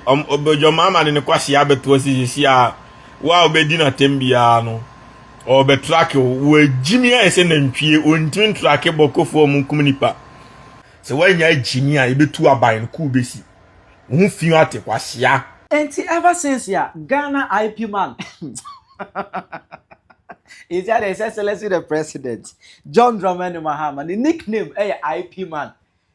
Ɔm ɔbɛdwam ama ne ne kwasea abɛto ase sisi a wo a wobɛdi no atɛm biara no ɔrebɛtrake wo wɔagyimi ayɛ sɛ nantwie ɔntumi ntrake bɔkɔfoɔ ɔmo nkum nipa sɛ woanya agyimi a yɛbɛtu aban no kuu bɛsi wo ho fi ate kwasea. Nti ever since a Ghana IP man Nti adɛn His Excellency the President John Dramani Mahama ne nickname yɛ IP man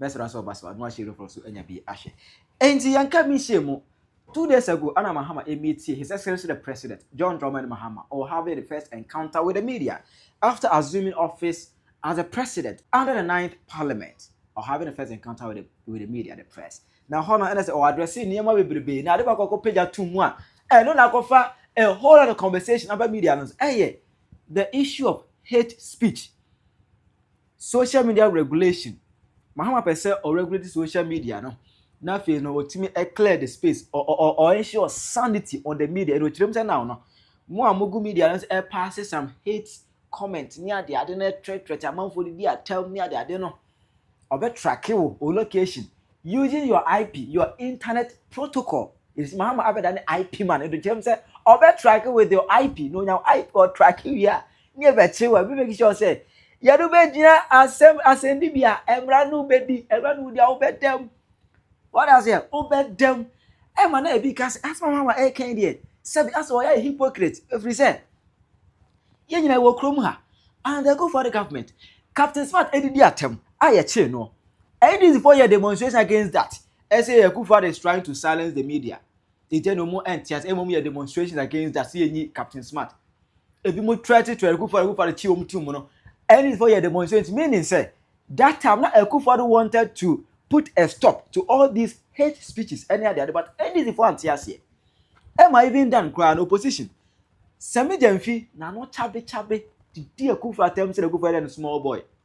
mɛsra sɛ ɔba so a na wahyɛ reflux so anya bi ahwɛ enti yɛnka bi nhyɛ mu two days ago ana mahama emietie his excellency the president john dramani mahama or having the first encounter with the media after assuming office as the president under the ninth parliament or having the first encounter with the, with the media the press na hɔ no ɛna sɛ ɔadrɛse nneɛma bebrebe na ade baako akɔ pagya to mu a ɛno na akɔfa a whole lot of conversation aba media no ɛyɛ the issue of hate speech social media regulation mahama pɛ sɛ ɔregulate social media no na afei no ɔtumi clear the space or ensure sanity on the media ɛna ɔkyerɛm sɛ now no mo a mogu media no sɛ pass some hate comment ne ade ade no ɛtrɛtrɛte amanfoɔ de di atam ne ade ade no ɔbɛtrake wo o location using your ip your internet protocol ɛsi mahama abɛda ne ip man ɛna ɔkyerɛm sɛ ɔbɛtrake with your ip na ɔnya ip ɔtrake wie a ne ɛbɛkye wɔ ɛbi make sure sɛ yɛde wobɛgyina asɛm asɛndi bi a mmara no wobɛdi mmara no wodi a wobɛdam wɔde aseɛ wobɛdam ɛma na ebi ka sɛ asɛm a ɛkan deɛ sɛbi asɛ wɔyɛ hypocrite ɛfiri sɛ yɛn nyinaa wɔ kurom ha and the go for the government captain smart ɛdidi atɛm a yɛkyee no ndc fo yɛ demonstration against that ɛsɛ yɛ kufa is trying to silence the media Agya no mu ɛnte ase ɛmom yɛ demonstrations against that sɛ yɛnyi Captain Smart ebi mo trɛte trɛ Akufo Addo Akufo Addo kyi wɔn tum no ɛne fo yɛ demonstrations meaning sɛ that time na Akufo Addo wanted to put a stop to all these hate speeches ɛne ade ade but NDC fo ante aseɛ ɛma even dan koraa no opposition sɛ me gyamfi na no kyabe kyabe didi Akufo atam sɛ Akufo yɛ dɛ no small boy.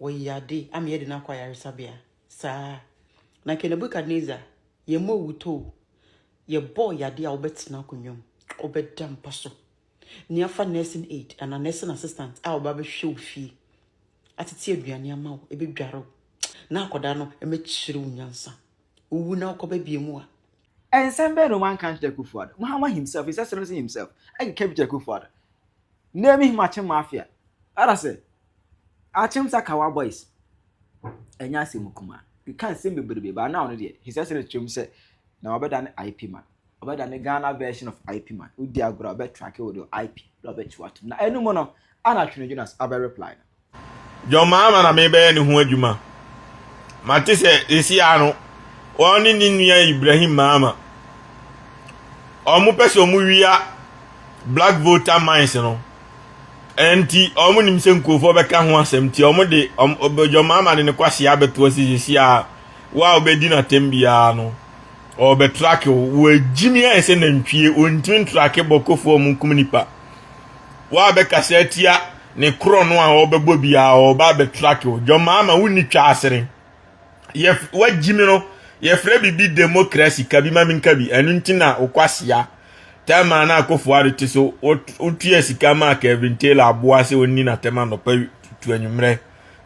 wɔyɛ ade ama yɛde no akɔ ayaresabea saa na kɛ nebukadnezar yɛmmɔ awutoo yɛbɔɔ yade a wobɛtena akonnwa mu wobɛda mpa so ne afa nursing aid anaa nursing assistant a wɔba bɛhwɛ wo fie atete aduane ama wo ɛbɛdware wo na akɔda no ɛmɛkyerɛ wo nyansa wowu na wokɔba bie mu a ɛnsɛm bɛn no wanka nkyerɛ kufuado mahama himself his excellency himself ɛkeka bi kyerɛ kufuado name him akyem mafia ara sɛ Akyem sa kawa boys ɛnyɛ asɛm kumaa keka nsɛm bebrebe but now no deɛ his excellence twam sɛ na wabɛda ne IP man ɔbɛda ne Ghana version of IP man wodi agorɔ a ɔbɛ tracke wo de wo IP na ɔbɛ kyi watom na ɛno mu no ana Twene Jonas abɛ reply no. John Mahama na mebɛyɛ ne ho adwuma mate sɛ ɛsia no wɔn ne ne nua Ibrahim Mahama wɔn pɛ sɛ wɔn wia black voter mines no Ɛnti ɔmo nim sɛ nkurofoɔ bɛka ho asɛm nti ɔmo de ɔbɛdwa ɔmo ama de ne kwahyɛ abɛto ase sisi a wo a ɔbɛdi no atɛm biara no ɔbɛtrake wo wɔagyimi ayɛ sɛ nantwie ɔntumi ntrake bɔkɔfoɔ ɔmo nkum nipa wo a bɛkasa atia ne korɔ no a ɔbɛbɔ biara ɔba abɛtrake wo dwɔmaama wonni twa asere yɛ wagyi me no yɛfrɛ biribi democracy ka bi ma menka bi ɛno nti na wokwasea tɛma na akɔfo ade te so wotua sika ma Kevin Taylor aboa sɛ ɔnni n'atɛm anɔpa tu anwummerɛ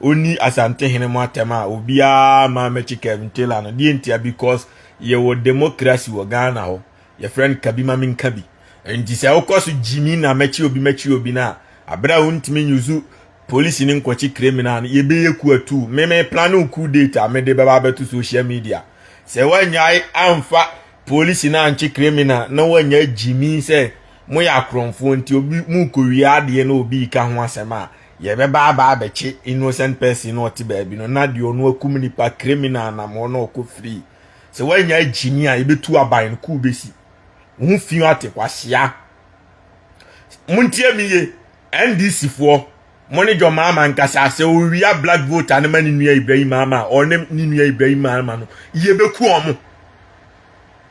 ɔnni asante hene mu atɛm a obiara ma mɛkye Kevin Taylor no deɛ ntia because yɛwɔ democracy wɔ Ghana hɔ yɛfrɛ no ka bi ma menka bi nti sɛ wokɔ so gyimi na mɛkye obi mɛkye obi no a aberɛ a wontumi nyusu Polisi ne nkwakyi criminal no yɛbɛyɛ ku atuu me me plane wo coup date a mede bɛba abɛto social media sɛ woanyae amfa polisi no ankye criminal na woanya gyimi sɛ moyɛ akorɔmfoɔ nti obi mokɔwie adeɛ na obi ka ho asɛm a yɛbɛba aba abɛkye innocent person na ɔte baabi no na deɛ ɔno akum nipa criminal nam hɔ na ɔkɔ free sɛ woanya gyimi a yɛbɛtu aban no kuu bɛsi ho fi ate kwahyia montie me ye NDC foɔ mo ne John Mahama nkasa sɛ owia black vote no ma ne nua Ibrahim Mahama a ɔne ne nua Ibrahim Mahama no yɛbɛku ɔmo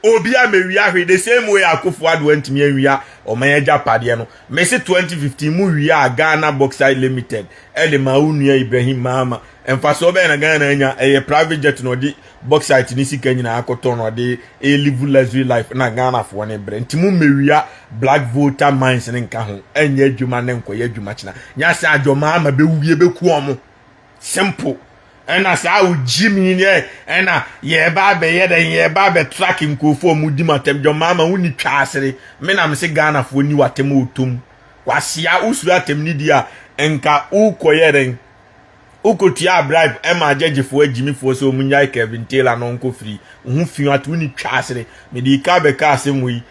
obi a mewia hwe the same way akofo ado antumi anwia ɔman agya padeɛ no mese 2015 mu wia a Ghana Bauxite Limited ɛde ma wo nua Ibrahim Mahama mfasoɔ bɛyɛ na Ghana anya ɛyɛ private jet na ɔde Bauxite ne sika nyinaa kɔtɔn na ɔde live luxury life na Ghanafoɔ ne brɛ. Nti mo mmewia Black Volta mines ne nka ho. Ɛnyɛ adwuma ne nkɔyɛ adwuma kyena. Nyɛ sɛ adwomaa ma bɛwu bi ɛbɛku ɔmo. Simple. Ɛna saa wo gyimi ne ɛna yɛba abɛyɛ dɛn yɛba abɛ track nkurɔfoɔ ɔmo di mo atɛm. Dwomaa ma wo ni twaasere. Me na me se Ghanafoɔ ni w'atɛm ɔtɔm. Kwasea wo suro atɛm ne di a nka wo kɔyɛ dɛn. Wokotuaa bribe maa gyɛgyefoɔ agyimifoɔ sɛ wɔnyae Kevin Taylor na ɔnkɔ firi. Wo ho fi ato ne twa asere. Mede ika bɛka asɛm wɔ yi.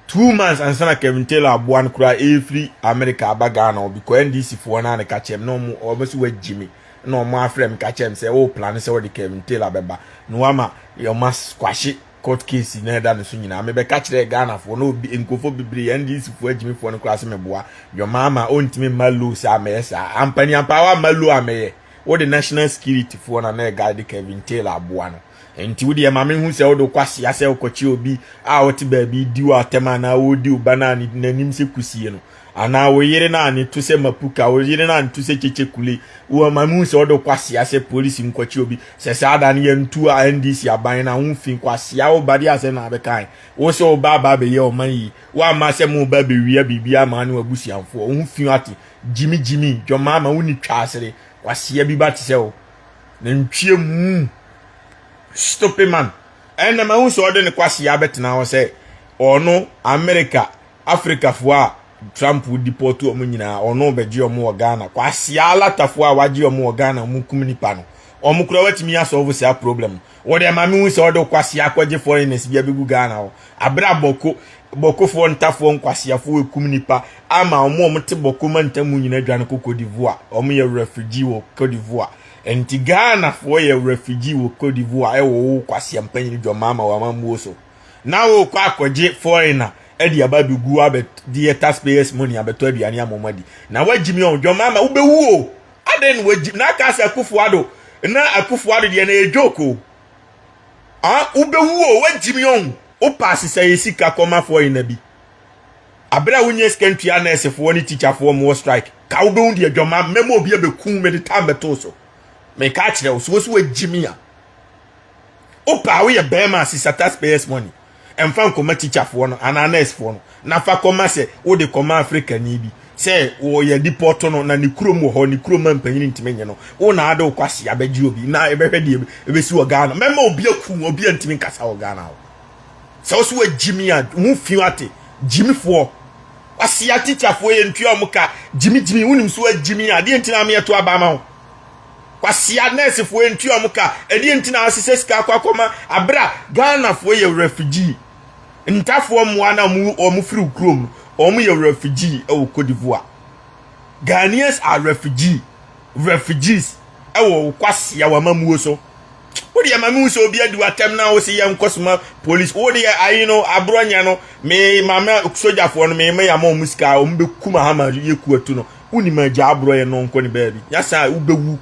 Two months ansa na Kevin Taylor aboa no koraa ɛrefiri Amerika aba Ghana hɔ because NDC foɔ no a na ka kyerɛ me na wɔn wɔn sɛ wɔagyi me na wɔn afrɛ me ka kyerɛ me sɛ wɔreplane sɛ wɔde Kevin Taylor bɛba na wɔama wɔn asquashe court case na ɛda ne so nyinaa mebɛka kyerɛɛ ghanafoɔ na obi nkurɔfoɔ bebree ndcfoɔ agyimifoɔ no koraa sɛ meboa dwɔmaa ma ɔntumi mma low sɛ amɛyɛ saa ampani ampa wa ma low amɛyɛ wode national security foɔ na na ɛguide kevin taylor aboa no nti wodeɛ ma mehu sɛ wode wokɔ aseɛ sɛ wokɔkye obi a ɔte baabi di wo atɛm anaa wɔredi wo ba no a n'anim sɛ kusie no anaa wo yere no a ne to sɛ mapuka wo yere no a ne to sɛ kyekye kule wo ma mu sɛ ɔde kwasea sɛ polisi nkɔkye obi sɛ saa da no yɛntu a ndc aban no a wo fi kwasea wo ba de asɛm na abɛkan wo sɛ wo ba aba abɛyɛ ɔman yi wo ama sɛ mo ba bɛwia biribi ama ne wabusuafoɔ wo fi ate gyimi gyimi dwɔma ama wo ni twa asere kwasea bi ba te sɛ wo na ntwie mu stupid man ɛnna ma wo sɛ ɔde ne kwasea bɛtena hɔ sɛ ɔno Amerika Africafo a Trump deport wɔn nyinaa ɔno bɛgye wɔn wɔ Ghana kwasia alatafo a wagye wɔn wɔ Ghana wɔn kum nipa no wɔn kura watumi asɔlvo saa problem wɔ deɛ maame hu sɛ ɔde kwasia akɔgye foreigners bi abɛgu Ghana hɔ abere a bɔko bɔkofoɔ ntafoɔ nkwasiafoɔ ekum nipa ama wɔn a wɔte bɔko mantam mu nyinaa dwane kɔ Cote d'Ivoire wɔn yɛ refugee wɔ Cote d'Ivoire nti Ghanafoɔ yɛ refugee wɔ Cote d'Ivoire ɛwɔ wo kwasia mpanyin dwɔmaa ma wɔn amammuo so. na wokɔ akɔgye foreigner ɛde aba bi gu abɛ deɛ taxpayers money abɛtɔ aduane ama wɔn adi na wagyi mi ɔdwɔn maa ma wobɛwu o adɛn na wagyi na aka sɛ akufuado na akufuado deɛ na ɛdwo ko a wobɛwu o wagyi mi ɔn wopa asesa yɛ sika kɔma foreigner bi abere a wonyɛ sika ntua nɛɛsefoɔ ne tikyafoɔ mowɔ strike ka wobɛwu deɛ dwɔma mɛma obi abɛku mede tam bɛtoo so meka akyerɛ wo so wo so wagyi mi a wopɛ a woyɛ bɛrima a sisa taxpayers money ɛmfa nkɔma tikyafoɔ no anaa nursefoɔ no na fa kɔma sɛ wode kɔma afrikani bi sɛ wɔyɛ dipɔto no na ne kurom wɔ hɔ ne kurom ma mpanyin ntumi nye no wo na ade wokɔ ase abɛgye obi na ɛbɛhwɛ deɛ ɛbɛsi wɔ ghana mɛma obi aku obi a ntumi nkasa wɔ ghana hɔ sɛ wo so wagyimi a wo fi ate gyimifoɔ wasia tikyafoɔ yɛ ntua wɔn ka gyimigyimi wonim so wagyimi a deɛ ntina ameɛto aba ma wo Kwasia nɛɛsefoɔ ntua wɔn ka. Ɛdeɛ nti na wɔahyehyɛ sika akɔ akɔma abere a Ghanafoɔ yɛ refugee. Ntafoɔ mmoa no a wɔfiri wo kurom no, wɔyɛ refugee wɔ Cote d'Ivoire. Ghanaians are refugee, refugees wɔ wo kwasia w'amammuo so. Wo deɛ ma mehu sɛ obi adi w'atɛm na wo se yɛ nkɔsoma polisi. Wo deɛ ayi no aborɔ nyɛ no, me mama sogyafoɔ no me ma yɛ ama wɔn sika a wɔn bɛkum ahama yɛ kuatu no. wonim agya aborɔ yɛ no nkɔ ne baabi nyasa a wobɛwu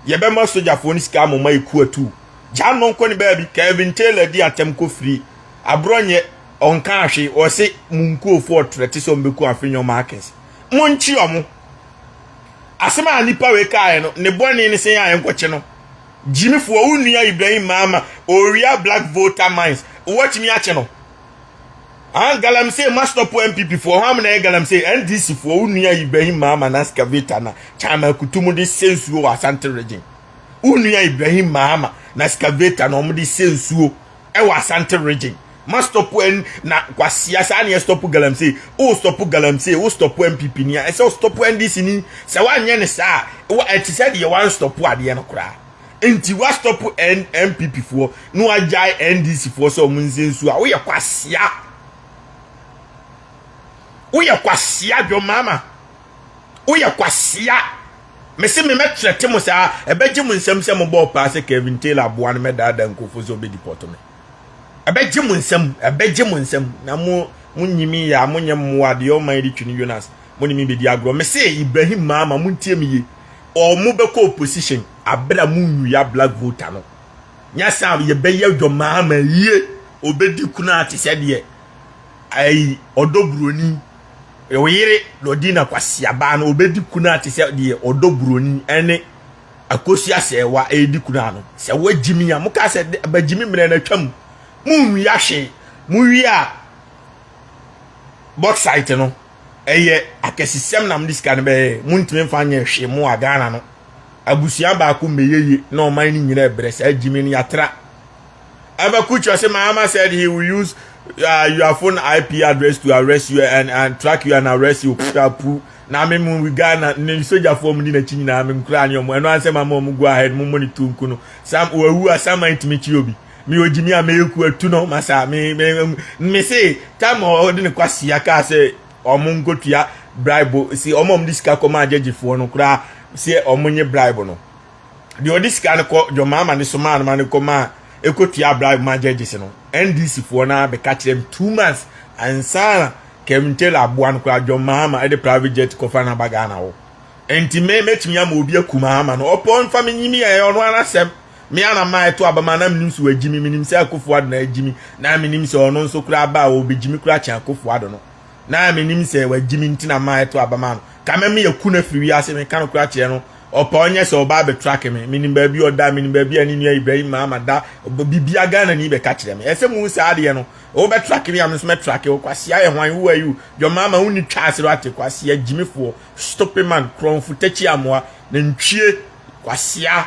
yɛbɛma sogyafoɔ no sika amoma yɛ ku atu gya no nkɔ ne baabi Kevin Taylor di atɛm kɔ firi aborɔ nyɛ ɔnka ahwe ɔse mo nkurofoɔ ɔtrɛ te sɛ ɔmbɛku afenyɔ markers mo nkye ɔmo asɛm a nipa wei kaeɛ no ne bɔne ne sɛ yɛ a yɛnkɔkye no gyimifoɔ wo nua Ibrahim Maama owia black voter mines wɔtumi akye no an galamsey ma stop npp foɔ hɔ amena yɛ galamsey ndc foɔ wo nua ibrahim mahama na excavator na chama akutu mu de sɛ nsuo wɔ asante region wo nua ibrahim mahama na excavator na wɔn de sɛ nsuo ɛwɔ asante region ma stop n na kwasia saa neɛ stop galamsey o stop galamsey o stop npp ni a ɛsɛ o stop ndc ni sɛ wanyɛ ne saa wa ɛte sɛ deɛ wan stop adeɛ no koraa nti wastop npp foɔ na wagyae ndc foɔ sɛ wɔn nse nsuo a woyɛ kwasia woyɛ kwasia dwom mama woyɛ kwasia mese me mɛkyerɛ te mo saa ɛbɛgye mo nsɛm sɛ mobɔɔ paa sɛ kevin taylor aboa no mɛdaadaa nkurɔfoɔ sɛ ɔbɛdi pɔto me ɛbɛgye mo nsɛm ɛbɛgye mo nsɛm na mo mo nyimi yɛ a monyɛ mmoa deɛ ɔman de twi no yonas mo ne me bɛdi agorɔ mese ibrahim maama montie me yie ɔmo bɛkɔ opposition aber a mo nyu ya black voter no nya sa a yɛbɛyɛ dwɔmaa ma yie obedi kunaa te sɛ deɛ ayi ɔdɔ buroni oyere na ɔdi na kwasiabaa no obedi kunaa te sɛ deɛ ɔdɔ buroni ɛne akosi asɛɛwa ɛredi kunaa no sɛ wagyimi a mo kaa sɛ bagyimi mmerɛ na atwam mo nyu ya hwee mo wie a bauxite no ɛyɛ akɛsesɛm na mode sika no bɛyɛ montumi mfa nyɛ hwee mo a ghana no abusua baako mmɛyɛye na ɔman no nyina ɛbrɛ saa gyimi no yɛatra abakukyɛ sɛ maama said he will use uh, your phone ip address to arrest you and, and track you and arrest you putapu na me mu ghana ne sogyafoɔ mu di n'akyi nyinaa me nkura ne ɔmo ɛno ansɛ ma ma ɔmo go ahead mo monitor nku no sam wawu a saman tumi kyi obi me ogyi me a mɛyɛ ku atu no ma saa me me me se tam ɔde ne kwasia kaa sɛ ɔmo nkotua bribe si ɔmo ɔmo de sika kɔ maa gyegyefoɔ no koraa si ɔmo nye bribe no deɛ ɔde sika no kɔ deɛ ɔmo ama ne so maa no ma ne kɔ maa ekotua bribe maa gyegyefoɔ no ndc foɔ no abɛka kyerɛ mu two months ansana Kevin Taylor aboa no koraa John Mahama ɛde private jet kɔfa no aba Ghana hɔ nti me mɛtumi ama obi aku Mahama no ɔpɔ nfa me nyimi ɛyɛ ɔno ara asɛm Me ara na maɛto aba ma na menim sɛ wagyi me, menim sɛ Akufo Addo na agyi me, na menim sɛ ɔno nso koraa aba a ɔbɛgyi me koraa kyɛn Akufo Addo no. Na menim sɛ wagyi me nti na maɛto aba ma no. Ka me me aku no afiri wiase, meka no koraa kyerɛ no, ɔpɛ ɔnyɛ sɛ ɔba abɛtrake me. Menim baabi a ɔda, menim baabi a ne nua Ibrahim Mahama da, biribiara Ghanani bɛka kyerɛ me. Ɛsɛ mohu saa adeɛ no, wobɛtrake me a me nso mɛtrake wo. Kwasea yɛ hwan? Who are you? John Mahama wonni twa ase no ate, kwasea gyimifoɔ, stupid man, korɔnfo takyi amoa, nantwie, kwasea.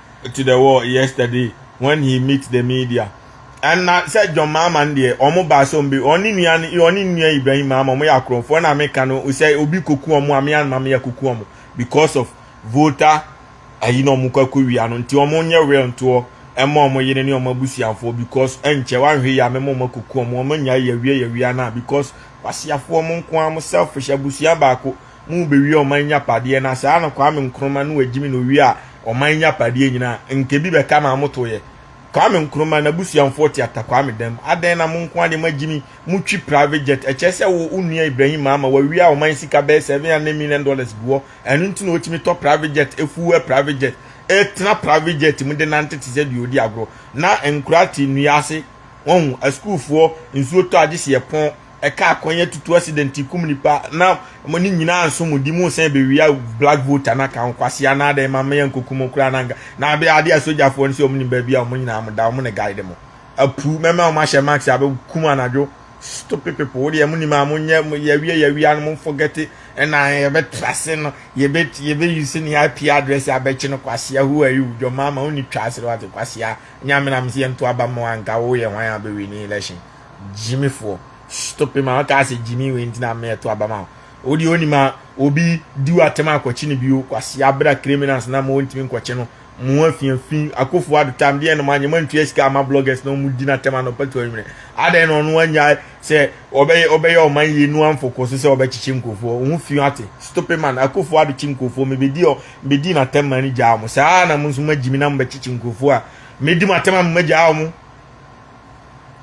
to the world yesterday when he meet the media and na sɛ john mahama no deɛ wɔn baa sɛ wɔn bɛ wɔn ne nua wɔn ne nua ibrahim mahama wɔn yɛ akorɔmfoɔ na meka no sɛ obi koku wɔn a me anma me akoku wɔn because of voter ayi na wɔn kɔ akɔ wia no nti wɔn nyɛ real ntoɔ ɛma wɔn yere ne wɔn abusuafoɔ because ɛnkyɛ wɔanhwɛ yɛ a mɛma wɔn akoku wɔn wɔn anya yɛ wia yɛ wia na because wasiafoɔ wɔn nko ara wɔn selfish abusua baako mu bewie ɔman nyapadeɛ na saa na Kwame Nkrumah no agyimi na owie a ɔman nyapadeɛ nyinaa nka bi bɛka na amotoyɛ Kwame Nkrumah na busuamfoɔ te atakwame dam adɛn na mo nko adeɛ mo agyimi mo twi private jet ɛkyɛ sɛ wo onua Ibrahim Mahama wawie a ɔman sika bɛyɛ 700 million dollars guwɔ ɛno nti na ɔtumi tɔ private jet efuo ɛ private jet ɛtena private jet mu de nante te sɛ deɛ ɔdi agorɔ na nkura te nnua ase wɔn asukuufoɔ nsuo tɔ agye si ɛpɔn ɛkaa kwan atutu accident kum nipa na mo ne nyinaa nso mo di mo sɛ bewia black voter na kan kwasi anaa dɛ ma meyɛ nkokum kura na nka na abe ade a sogyafoɔ no sɛ wɔn nim baabi a wɔn nyinaa mo da wɔn ne guide mo apu mɛma wɔn ahyɛ max abe kum anadwo stupid people wo deɛ mo nim a mo nyɛ mo yɛwia yɛwia no mo forget ɛna yɛbɛ trase no yɛbɛ yɛbɛ use ne IP address abɛkye no kwasi ahu ayi wo dwom ama wɔn ni twa asere wate kwasi a nyame na mo sɛ yɛn to aba mo anka wo yɛ hwan abɛwi ne election gyimifoɔ stope ma ɔkaa sɛ gyimi wei nti na mmɛ ɛto aba ma wo deɛ onim a obi di wo atɛm akɔkye no bio kwasi abira criminals na ma wɔntumi nkɔkye no mu afiafi akofo adotam deɛ no ma nyɛ mantua sika ama bloggers na wɔn di n'atɛm anɔpa tu anwummerɛ adɛn na ɔno anya sɛ ɔbɛyɛ ɔbɛyɛ ɔman yie nu amfo kɔ so sɛ ɔbɛkyekye nkurɔfoɔ wɔn ho fi ate stope man akofo adokye nkurɔfoɔ mebɛdi ɔ mebɛdi n'atɛm ma no gyaa wɔn saa na mo nso magyimi na mobɛkyekye nkurɔfoɔ a medi m'atɛm a mobɛgyaa wɔn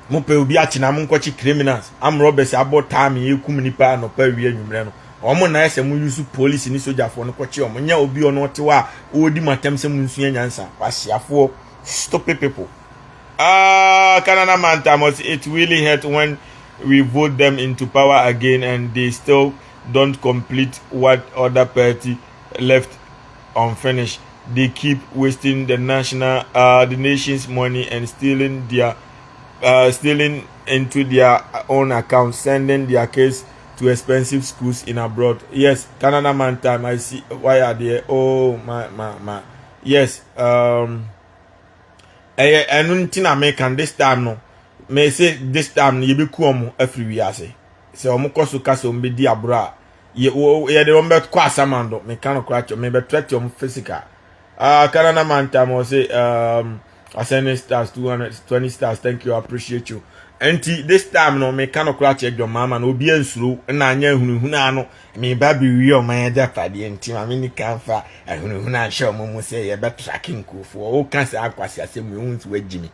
mo pɛ obi akye na mo nkɔkye criminals am robbers abɔ time ekum nipa anɔpa awie anwummerɛ no wɔn na ɛsɛ mo use police ne sogyafoɔ no kɔkye wɔn nyɛ obi ɔno ɔte hɔ a ɔredi mo atɛm sɛ mo nsua nyansa wahyeafoɔ stupid people ah Canada mantamɔs it really hurt when we vote them into power again and they still don't complete what other party left unfinished they keep wasting the national uh, the nation's money and stealing their uh, stealing into their own account sending their kids to expensive schools in abroad yes canada man time i see why are there oh my my my yes um ɛyɛ ɛno nti na meka this time no mese this time no yɛbɛku ɔmo afiri wiase sɛ ɔmo kɔ so ka sɛ ɔmo bɛdi aboro a yɛde wɔn bɛkɔ asamando meka no koraa kyɛ mebɛtrɛte wɔn physical uh, canada mantam wɔ se um, asɛne stars 220 stars thank you appreciate you nti this time no meka no koraa kyɛ dwɔmaama no obi ansuro na anyɛ ahunahuna ano meba bewie ɔman agyapadeɛ nti ma mene ka mfa ahunahuna nhyɛ ɔmo mu sɛ yɛbɛtrake nkurɔfoɔ woka saa nkwase asɛm mu ɛhu nso wagyimi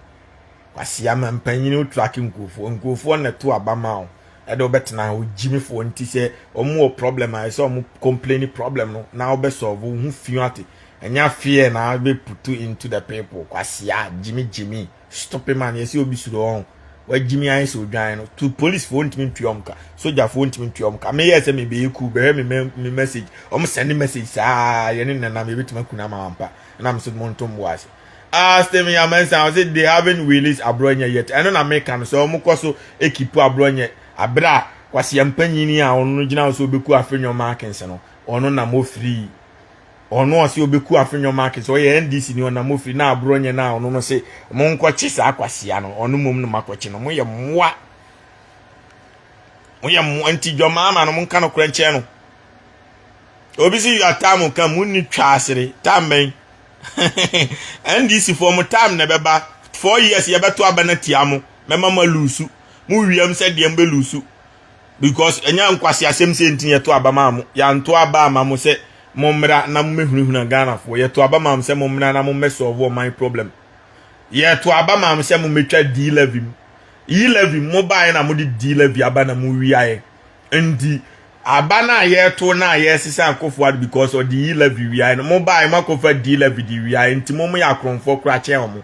Kwasi ama mpanyin wo track nkurɔfoɔ nkurɔfoɔ na to aba ma wo ɛde wobɛtena ha ogyimifoɔ nti sɛ wɔn wɔ problem a ɛsɛ wɔn complain problem no na wobɛ solve wo ho fi ate ɛnya fear na bɛ putu into the people kwasi a gyimi gyimi stupid man yɛsɛ obi suro wɔn wagyimi ayɛ sɛ odwan no to police foɔ ntumi ntua wɔn ka soja foɔ ntumi ntua wɔn ka meyɛ sɛ mebɛyɛ cool bɛhwɛ me me message wɔn send message saa yɛne nenam yɛbɛtumi akuna ma wampa ɛnam sɛ mo ntomboa ase Ah, Stephen Yamansan, ɔsɛ they haven't released Abrɔnyɛ yet. Ɛno na meka no sɛ wɔn kɔ so ekipu Abrɔnyɛ abere a kwasia mpanyin a ɔno no gyina so obeku Afenyo Markins no ɔno nam ofiri ɔno ɔsɛ obeku Afenyo Markins ɔyɛ NDC ni ɔnam ofiri na Abrɔnyɛ na ɔno no sɛ wɔn nkɔkye saa kwasia no ɔno mom no makɔkye no mo yɛ mmoa mo yɛ mmoa nti dwamaa ma no mo nka no korɛ nkyɛn no obi si yɔ ataa mo ka mo ni twa asere taa mbɛn. NDC foɔ mo time na ɛbɛba four years yɛbɛto aba na tia mo mɛma ma lusu mo wiam sɛ deɛ mbɛ lusu because ɛnyɛ nkwasi asɛm sɛ nti yɛto aba ma mo yɛanto aba ama mo sɛ mo mmra na mo mɛhunahuna Ghana foɔ yɛto aba ma mo sɛ mo mmra na mo mɛ solve ɔman problem yɛto aba ma mo sɛ mo mɛtwa D levy mu E levy mo baeɛ na mo de D levy aba na mo wiaeɛ nti aba no a yɛto no a yɛsesa akɔfo ade because ɔde yi levy wiae no mo bae mo akɔfa di levy de wiae nti mo mo yɛ akorɔmfoɔ kora kyɛn ɔmo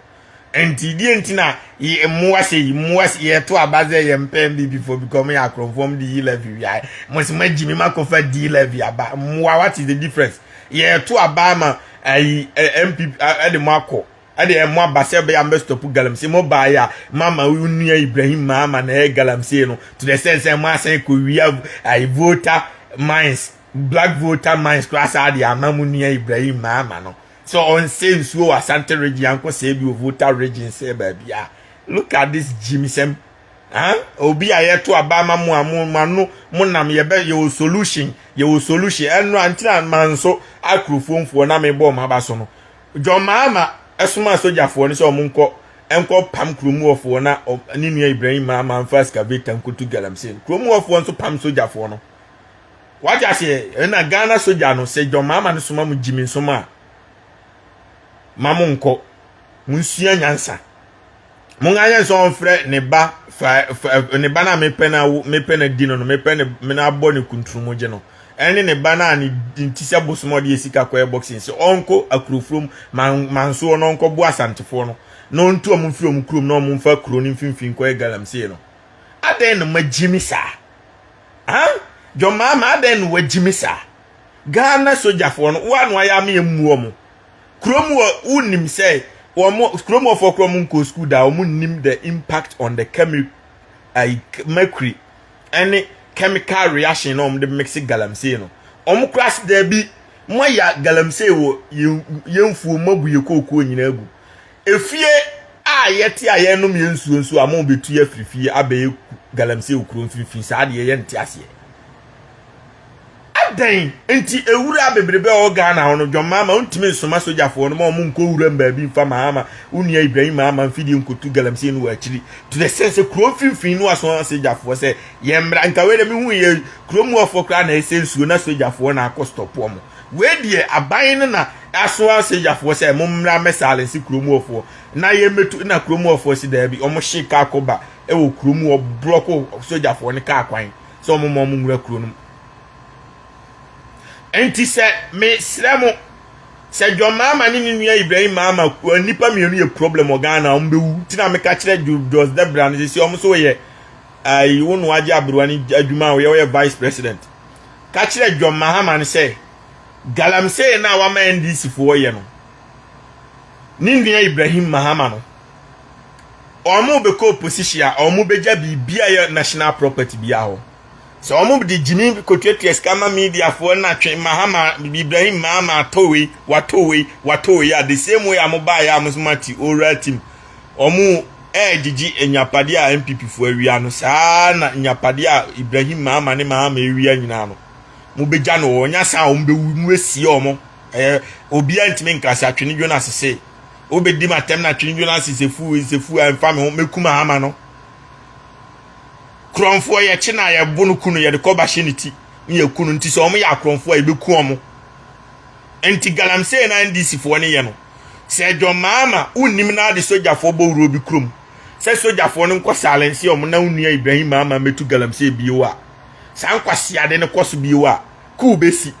nti deɛ nti na yɛ mmoa sɛ yi mmoa sɛ yɛto aba sɛ yɛ mpɛn bibifo because ɔmo yɛ akorɔmfoɔ ɔmo de yi levy wiae mo sɛ mo agyi mi mo akɔfa di levy aba mmoa what is the difference yɛto aba ama ayi mpp ɛde mo akɔ ɛde ɛmo aba sɛ ɛbɛyɛ mbɛstɔpo galamsey mo baa yɛ a mama onua ibrahim maama na ɛyɛ galamsey no to the sense sɛ mo asan kɔ wia ayi voter mines black voter mines koraa saa de ama mo nua ibrahim maama no sɛ ɔnsɛ nsuo wɔ asante region yankɔ sɛ bi wɔ voter region sɛ baabi a look at this gyimsɛm ah obi a yɛto aba ama mo a mo mo ano mo nam yɛbɛ yɛwɔ solution yɛwɔ solution ɛno ankyerɛ a manso akurofomfoɔ na mebɔ ɔmo aba so no John Mahama somaa sogyafoɔ no sɛ wɔn nkɔ nkɔ pam kurom hɔfoɔ na ne nua Ibrahim Mahama nfa excavator nkotu galamsey no. Kurom hɔfoɔ nso pam sogyafoɔ no. Wagye aseɛ ɛna Ghana sogya no sɛ John Mahama no soma mo gyimi nsom a ma mo nkɔ mo nsua nyansa. monganyɛ sɛ ɔmfrɛ ne ba fa fa ne ba no a mepɛ no awo mepɛ no adi no no mepɛ ne me no abɔ ne kunturumogye no ɛne ne ba no a ne nti sɛ bosom ɔde yɛ sika kɔyɛ boxing sɛ ɔnkɔ akurofurom mansoɔ na ɔnkɔbo asantefoɔ no na ɔntu ɔmo mfiri ɔmo kurom na ɔmo mfa kuro no mfimfini kɔyɛ galamsey no adɛn na magyi me saa ha dwɔmaama adɛn na wagyi me saa ghana sogyafoɔ no woa no ayɛ ama yɛmmuɔ mo kurom wɔ wonim sɛ wɔn kurom wɔfoɔ korɔ wɔn nkɔ sukuu da wɔn nim the impact on the chemi ayi mercury ɛne chemical reaction na wɔn de mix galamsey no wɔn kora sɛ daabi mo ayɛ galamsey wɔ yɛn yɛn fuo mo abu yɛ kookoo nyinaa gu efie a yɛte a yɛnom yɛn nsuo nso a mo bɛtu yɛ afiri fie abɛyɛ galamsey wɔ kuro mfimfini saa deɛ yɛn nte aseɛ. Adɛn nti awuraa bebrebe a ɔwɔ Ghana hɔ no John Mahama ɔntumi nsoma sogyafoɔ no ma ɔmo nkɔ wuram baabi mfa Mahama wo nua Ibrahim Mahama mfidie nkotu galamsey no wɔ akyiri to the sense sɛ kuro mfimfini no aso asogyafoɔ sɛ yɛn mmra nka wei deɛ me hu yɛ kuro muafoɔ koraa na ɛsɛ nsuo na sogyafoɔ na akɔ stop ɔmo wei deɛ aban no na aso asogyafoɔ sɛ mo mmra mɛ silence kuro muafoɔ na yɛn mɛtu na kuro muafoɔ si daabi ɔmo hye kaa kɔba ɛwɔ kuro mu ɔblɔko sogyafoɔ no kaa kwan sɛ ɔmo ma ɔmo nwura kuro no Enti sɛ mesrɛ mo, sɛ John Mahama ne ne nua Ibrahim Mahama kua nnipa mmienu yɛ problem wɔ Ghana a, wɔbɛwu. Nti na meka kyerɛ Jos Debra no sisi wɔn nso wɔyɛ ayi wo no agye aberewa no adwuma a wɔyɛ wɔyɛ vice president. Ka kyerɛ John Mahama no sɛ galamsey no a wama NDC foɔ yɛ no ne nua Ibrahim Mahama no wɔn bɛkɔ opposition a wɔn bɛgya biribi a yɛ national property biara hɔ. Sɛ wɔn mo de gyimi kotuatua sika ma media foɔ na twe mahama Ibrahim mahama atɔ wei watɔ wei watɔ wei a the same way a mo baa yɛ a mo so mati owura tim wɔn mo ɛɛgyegye nyapadeɛ a NPP foɔ awia no saa na nyapadeɛ a Ibrahim mahama ne mahama awia nyinaa no mo bɛgya no wɔn nya saa wɔn bɛwu mo bɛsie wɔn mo ɛɛ obiara ntumi nka sɛ atwene dwo no asese wobɛdi ma tɛm na atwene dwo no asese fu nsɛ fu a mfa me ho mɛku mahama no Korɔnfoɔ yɛkye no a yɛbo no ku no yɛde kɔba hyɛ ne ti na yɛku no nti sɛ wɔn yɛ akorɔnfoɔ a yɛbɛku wɔn nti galamsey na NDC foɔ ne yɛ no sɛ John Mahama wonnim na ade sogyafoɔ bɔ wuruo bi kurom sɛ sogyafoɔ no nkɔ silence wɔn na wonua Ibrahim Mahama mɛtu galamsey bio a saa nkwasiade no kɔ so bio a kuu bɛsi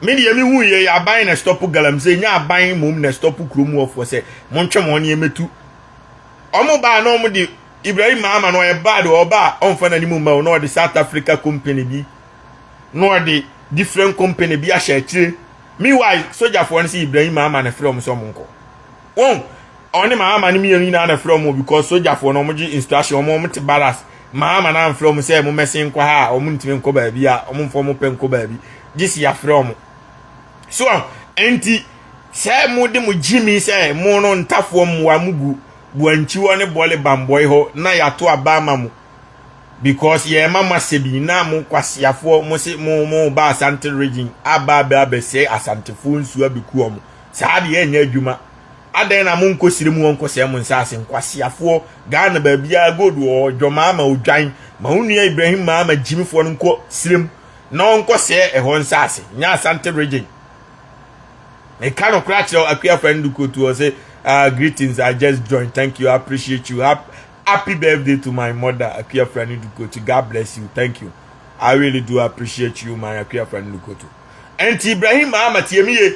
me deɛ mehu yɛ yɛ aban na stop galamsey nyɛ aban mmom na stop kurom wɔfoɔ sɛ montwe mo ne yɛmɛtu wɔn baa na wɔn de ibrahim ama no ɔyɛ bad ɔba a ɔnfa n'anim mma o na ɔde south africa company bi na ɔde different company bi ahyɛ akyire meanwhile sogyafoɔ no sɛ ibrahim ama na frɛ wɔn sɛ wɔn nkɔ wɔn ɔne maama no mmienu nyinaa na frɛ wɔn because sogyafoɔ no wɔn gye instruction wɔn wɔn te barras maama no anfrɛ wɔn sɛ wɔn mɛsen nkɔ ha a wɔn ntumi nkɔ baabi a wɔn mfa wɔn pɛ nkɔ baabi gye si afrɛ wɔn. So a enti sɛ mode mo gyimi sɛ mo no ntafoɔ mmoa mo gu boankyiwɔ ne bɔle bambɔe hɔ na yɛato aba ama mo because yɛrema mo asɛ bi na mo kwaseafoɔ mo se mo mo ba asante region aba abɛ abɛsɛe asantefoɔ nsuo abɛku wɔn saa deɛ ɛnyɛ adwuma adɛn na monkɔsire mu wɔnkɔsɛe mo nsaase nkwaseafoɔ ghana baabiara gold wɔ dwɔmaa ma odwan ma wo nua ibrahim maa ma gyimifoɔ no nkɔ sire mu na ɔnkɔsɛɛ ɛhɔ nsase nyɛ asante region meka no kora kyerɛ akua fa ndu kotu ɔ sɛ uh, greetings i just join thank you i appreciate you happy birthday to my mother akua fa ndu kotu god bless you thank you i really do appreciate you my akua fa ndu kotu ɛnti ibrahim ahmad yɛmi ye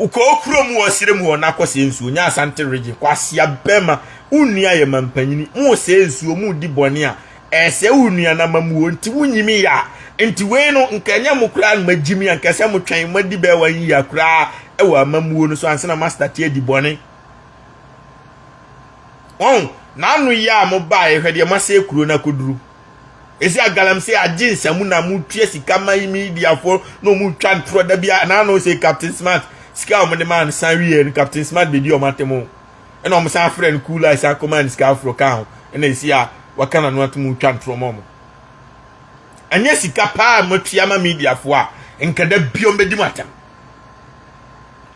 Wokɔ okuro mu wɔ serɛ mu hɔ na kɔsɛɛ nsuo nyɛ Asante region kwasea bɛma wonua yɛ manpanyini mosɛɛ nsuo modi bɔne a ɛsɛɛ wo nuanamamuo nti wonyimi yɛ a nti wei no nka ɛnyɛ mo koraa no magyimi anka ɛsɛ motwɛn madi bɛɛ one year koraa ɛwɔ amamuo no so ansana mastarte adi bɔne wɔn na ano yɛ a mobaeɛ hwɛ deɛ moasɛɛ kuro no akɔduru. Ese a galamsey agye nsamu na mo tua sika ma yi media fo na ɔmo twa ntorɔ da bia na ano se captain smart sika a ɔmo de maa no san wie no captain smart bedi ɔmo atem o ɛna ɔmo san frɛ no cool eye san kɔmaa no sika aforo kaa ho ɛna ese a waka n'ano atom twa ntorɔ ma ɔmo anyɛ sika paa a moatua ma media fo a nka da bia ɔmo bedi mo atem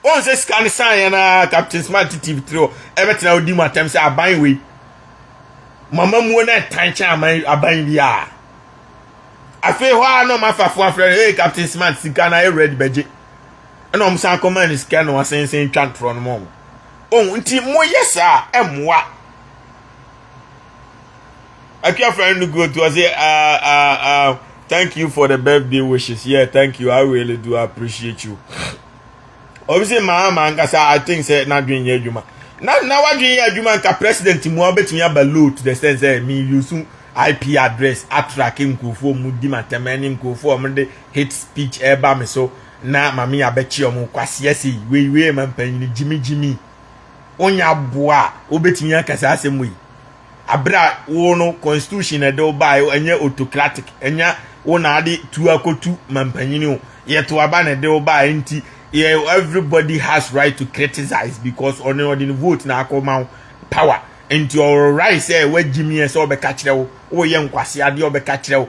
wɔn sɛ sika no san yɛ na captain smart tv tiri hɔ ɛbɛtena ɔdi mo atem sɛ aban wei mo amammuo no ɛtan kyɛn aman aban bi a afei hɔ a na ɔmo afafo afrɛ no hey captain smart sika na ayɛ red bɛgye ɛna ɔmo san kɔma no sika na wasensen twa ntorɔ no ma ɔmo ohun nti mo yɛ saa ɛmoa atwa afrɛ no go to ɔsɛ ah ah ah thank you for the birthday wishes yeah thank you i really do appreciate you. obi sɛ maa maa nkasa i think sɛ n'adwene nyɛ adwuma na na wadwene yɛ adwuma nka president mu a wobɛtumi aba low to the sense sɛ me use ip address atrake nkurɔfoɔ mu di ma ntɛmɛ ne nkurɔfoɔ a wɔde hate speech ɛreba me so na mame abɛkye wɔn kwaseɛ se wei wei ma mpanyini gyimi gyimi wonya boa a wobɛtumi aka saa asɛm wei Aber a wo no constitution na ɛde wo bae o, ɛnyɛ autocratic, ɛnyɛ wo na ade tu akotu mampanyin o, yɛto aba na ɛde wo bae nti yɛ everybody has right to criticize because ɔne ɔde ne vote na akɔ ma wo power nti ɔwɔ right sɛ wagyim yɛ sɛ ɔbɛka kyerɛ wo, woyɛ nkwaseadeɛ ɔbɛka kyerɛ wo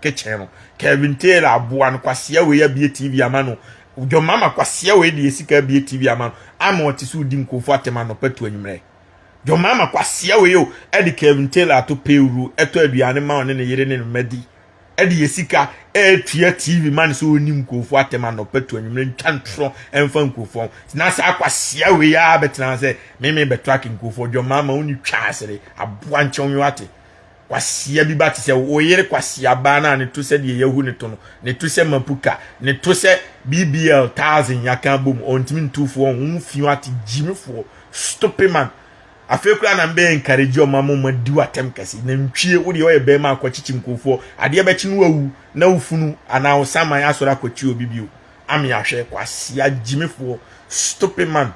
kitchen no kevin taylor aboa no kwasea wei abie tv ama no john mama kwasea wei de esika abie tv ama no ama ɔte so di nkurɔfo atɛm anɔpa tu anwummerɛ john mama kwasea wei o ɛde kevin taylor ato pewuru ɛtɔ aduane ma ɔne ne yere ne ne mma di ɛde esika ɛtua tv ma no sɛ ɔni nkurɔfo atɛm anɔpa tu anwummerɛ ntwa ntorɔ ɛmfa nkurɔfo na saa kwasea wei a bɛtena sɛ meme bɛtɔ ake nkurɔfo john mama woni twa asere aboa nkyɛn wate kwasia bi ba te sɛ wo yere kwasia baa no a ne to sɛ deɛ yɛahu ne to no ne to sɛ mapuka ne to sɛ bbl thousand yɛaka abom ɔntumi ntufoɔ ho wo fi ate gyimifoɔ stupid man afei koraa na mbɛyɛ nkaregi ɔma mo ma di watam kɛse na ntwie wo deɛ ɔyɛ bɛrima akɔkyekye nkurɔfoɔ adeɛ bɛkye no awu na wo funu anaa wo saman asɔre akɔkye obi bio ame ahwɛ kwasia gyimifoɔ stupid man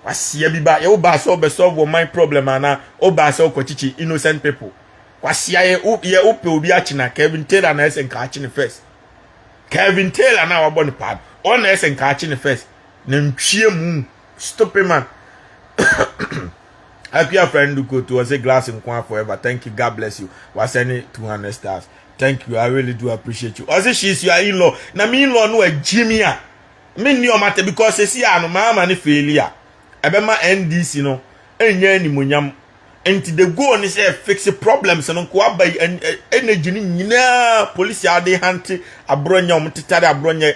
Kwasia bi ba yɛ wo baa sɛ ɔbɛ solve wɔ man problem ana o baa sɛ ɔkɔ kyichi innocent people. Kwasia yɛ wo yɛ wo pɛ obi akyina Kevin Taylor na ɛsɛ nka akyi ne first. Kevin Taylor na wabɔ ne paa no. Ɔn na ɛsɛ nka akyi ne first. Na ntwie mu stupid man. Akuya friend ko to ɔsɛ glass nko forever. Thank you God bless you. Wasɛne 200 stars. Thank you I really do appreciate you. Ɔsɛ she's your in-law. Na me in-law no agyimi a me nni ɔmo atɛ because sisi a no maama ne faili a ɛbɛma NDC no ɛnyɛ animonyam nti the goal ne sɛ fix problems no nko aba yi energy no nyinaa polisi a ɔde hante aborɔ nyɛ ɔmo tetare aborɔ nyɛ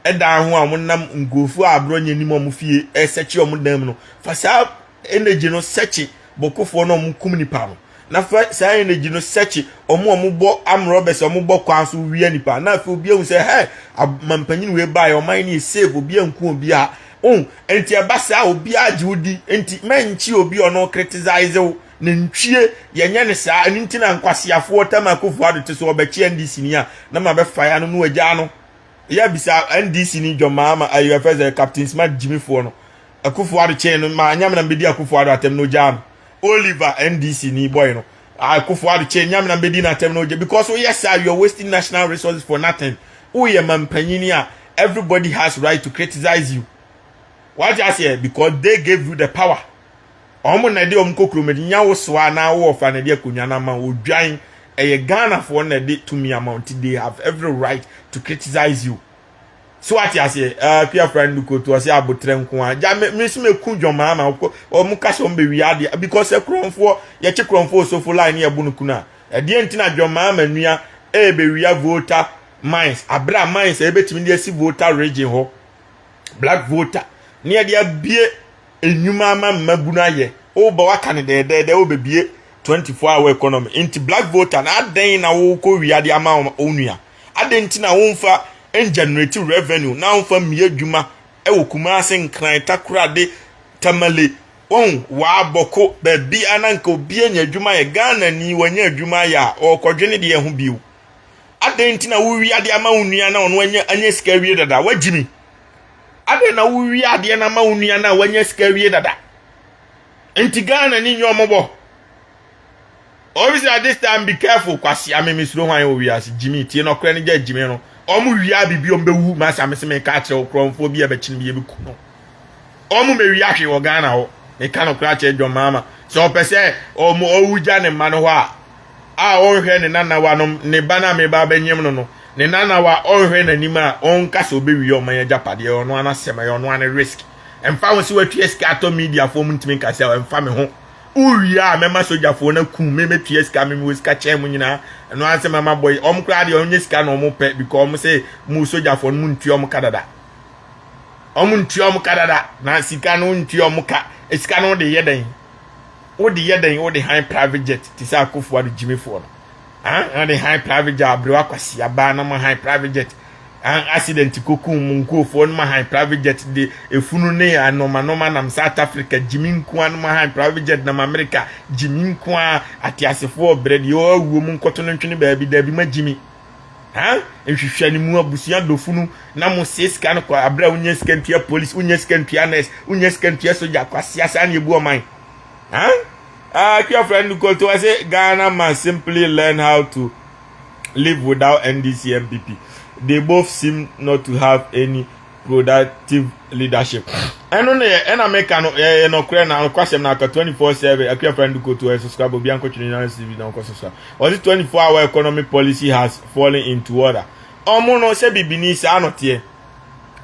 ɛdan ho a ɔmo nam nkurɔfoɔ a aborɔ nyɛ nim ɔmo fie ɛsɛkye ɔmo dan mu no fa saa energy no sɛkye bɔkɔfoɔ no a wɔn kum nipa no na fɛ saa energy no sɛkye wɔn a wɔn bɔ amrɔbɛs a wɔn bɔ kwan so wia nipa na afei obi ehu sɛ hɛ mampanyin wei baa yɛ ɔman no yɛ save obi anku obi a ohun nti ɛba saa obi agye odi nti mɛnkye obi a ɔno criticize wo na ntwie yɛnyɛ ne saa ɛno nti na nkwaseafoɔ tam akofo ado te so ɔbɛkye ndc ni a na ma bɛfa ya no no agya no yɛ bisa ndc ni dwɔmaa ma ayɛ fɛ sɛ captain smart gyimifoɔ no Akufo Ado kyɛn no ma Nyamenam bedi Akufo Ado atɛm na ogyaa no. Oliver NDC ni boy no Akufo Ado kyɛn Nyamenam bedi no atɛm na ogya because woyɛ saa you are wasting national resources for nothing. Woyɛ mampanyini a everybody has right to criticize you. Wate aseɛ because they gave you the power. Ɔmo na ɛde ɔmo kɔ kurom de nya wo soa na wo ɔfa na ɛde akonnwa no ama wo odwan. Ɛyɛ Ghanafoɔ na ɛde tumi ama wo nti they have every right to criticize you. so wate aseɛ ɛɛ eh, kuyafra no koto ɔsɛ abotrɛ nko a gya me nso meku dwɔmaa ma wɔn kasa wɔn bɛwie adeɛ because ɛkorɔmfoɔ yɛkye korɔmfoɔ osofo line ne yɛbo no kunu a ɛdeɛ nti na dwɔmaa ma nua ɛɛbɛwia eh, voter mines abere a mines ɛbɛtumi eh, de asi voter region hɔ black voter ne yɛde abie nnwuma ama mmabunu ayɛ woba waka no dɛɛdɛɛdɛ wobɛbie 24 hour economy nti black voter na adɛn na wokɔ wia de ama wo nua adɛn nti na womfa ngenerate revenue na womfa mmie adwuma ɛwɔ kumase nkran takorade tamale wɔn waabɔko baabi ananka obi anya adwuma yɛ ghana ni wanya adwuma ayɛ a ɔkɔdwene deɛ ho bio adɛn nti na wowia de ama wo nua na ɔno anya sika awie dada wagyimi adɛn na wowie adeɛ no ama wo nua no a wanya sika awie dada nti ghana ni nyɛ ɔmɔbɔ obisa this time be careful kwasea me mesuro hwan wɔ wiase gyimi tie no ɔkorɛ no gya gyimi no ɔmo wia biribi ɔmo bɛwu masa mese meka akyerɛ wo korɔmfoɔ bi a bɛkyene bi yɛbɛku no ɔmo mɛwi ahwe wɔ ghana hɔ meka no korɛ akyerɛ dwɔmaama sɛ ɔpɛ sɛ ɔmo ɔwu gya ne mma no hɔ a a ɔnhwɛ ne nanawanom, ne ba no a mereba abɛnyem no no, ne nanawa a ɔnhwɛ n'anim a ɔnka sɛ ɔbɛwie ɔman yi agyapadeɛ, ɛyɛ ɔno ara n'asɛm, ɛyɛ ɔno ara ne risk. Ɛmfa ho sɛ watua sika atɔ mediafoɔ mu ntumi nka sɛ ɛmfa me ho. Wowie a mɛma sogyafoɔ no akum me, mɛtua sika, me mewɔ sika kyɛn mo nyinaa, ɛno ara nsɛm a mabɔ yi. Wɔn koraa deɛ wɔnyɛ sika na wɔpɛ because wɔn sɛ mo sogyafoɔ no montua wɔn ka dada. Wɔn ntua wɔn ka dada na sika no ntua wɔn ka. Sika no de yɛ dɛn? Wo de yɛ dɛn wo de han private jet te sɛ akofo ado gyimi foɔ no ah ade han private jet abrew akwasi abaa no ma han private jet ah accident kokun mu nkurofoɔ no ma han private jet de efunu ne anoma noma nam south africa gyimi nkoa no ma han private jet nam america gyimi nkoa ateasefoɔ brɛ deɛ ɔwɔ awuo mu nkɔto no ntwene baabi dabi ma gyimi Huh? Nhwehwɛ ne mu abusua dɔfo no na mo sie sika no kɔ abere a wonya sika ntua police, wonya sika ntua nurse, wonya sika ntua soja kwasia saa na ebu ɔman. Huh? Ah, kua friend Koto, I say Ghana must simply learn how to live without NDC MPP. They both seem not to have any productive leadership ɛno ne yɛ ɛna meka no ɛyɛ nɔkorɛ na ɔkwasɛm no aka 24/7 akua fa ndu koto ɛso so abɔ bia nkɔtwene nyinaa si bi na ɔkɔ so so a ɔse 24 hour economy policy has fallen into order ɔmo no sɛ bibini saa no teɛ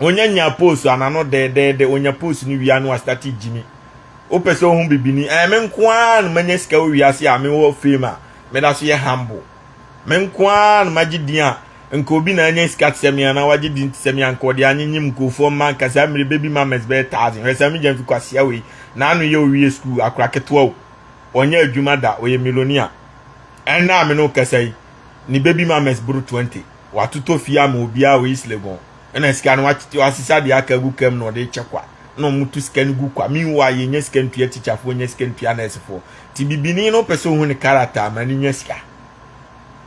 onya nya post anano dɛɛdɛɛdɛ onya post no wia no astate gyimi wopɛ sɛ ohu bibini ɛyɛ me nko ara no manya sika wɔ wiase a mewɔ fame a meda so yɛ humble Me nko ara na magye din a, nka obi na anya sika te sɛ me anaa wagye din te sɛ me anka ɔde anyenyem nkurɔfoɔ mma anka saa mmerɛ baby mamas bɛyɛ thousand. Hwɛ saa migya mfi kwasea wei. N'ano yɛ owie sukuu akora ketewa o. Ɔnyɛ adwuma da ɔyɛ millionaire. Ɛnnɛ a me ne wo kasa yi, ne baby mamas boro twenty. watotɔ fie ama obiara wɔ east legon ɛna sika no wasesa deɛ aka agu kam na ɔde kyɛ kwa na wɔtu sika no gu kwa meanwhile yɛnya sika ntua tikyafoɔ nya sika ntua nɛɛsefoɔ nti bibini no pɛ sɛ ohu ne character ama no nya sika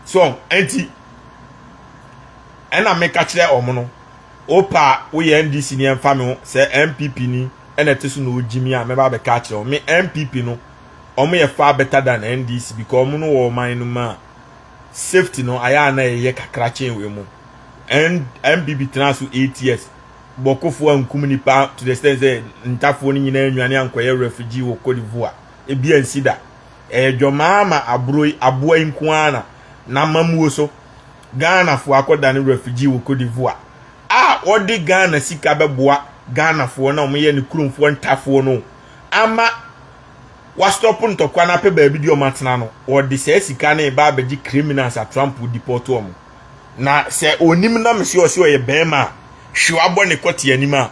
so ɛnti ɛna meka kyerɛ ɔmo no wopa a woyɛ ndc ni ɛmfa me ho sɛ mpp ni ɛna ɛte so na ogyi me a mɛba bɛka akyerɛ wɔn me mpp no wɔn yɛ far better than ndc because wɔn no wɔ ɔman no mu a safety no ayɛ a na ɛyɛ kakra kyɛn wei mu mbb tena so eight years bɔkofo ankum nipa to the extent sɛ ntafoɔ no nyinaa nwane ankɔyɛ refugee wɔ cote divoire ebi ansi da ɛyɛ dwɔmaa ma aburo yi aboa yi nko ara na n'amamuo so ghanafoɔ akɔdane refugee wɔ cote divoire a ɔde ghana sika bɛboa ghanafoɔ na wɔyɛ ne kuromfoɔ ntafoɔ no ama wɔastɔpo ntɔkwa no apɛ baabi de wɔn atena no, wɔde saa sika no reba abɛgye criminals a Trump deport wɔn. Na sɛ onim na mese ɔse ɔyɛ bɛrima a, hwe wabɔ ne kɔte anim a,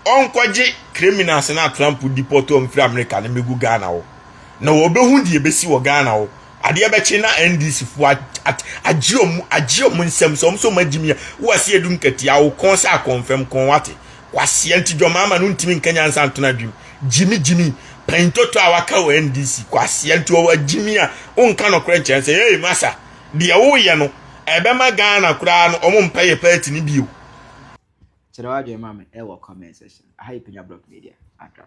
ɔnkɔgye criminals no a Trump deport wɔn firi America no mmɛgu Ghana hɔ. Na wɔbɛhu deɛ ɛbɛsi wɔ Ghana hɔ. Adeɛ bɛkye na NDC fo agye wɔn nsam sɛ wɔn nso wɔn agyimi a, woase edu nkatia, wo kɔn sɛ akɔnfam kɔn wate. kwasea nti dwɔmaama no ntumi nka nyansa nto no adwem gyimi gyimi panyintotɔ a waka wɔ ndc kwasea nti ɔwɔ gyimi a wonka nɔkorɛ nkyɛn sɛ yɛyɛ masa deɛ woyɛ no ɛbɛma ghana koraa no ɔmo mpɛ yɛ party no bio kyerɛ w'adwene ma me ɛwɔ comment section aha yɛ panya block media adra.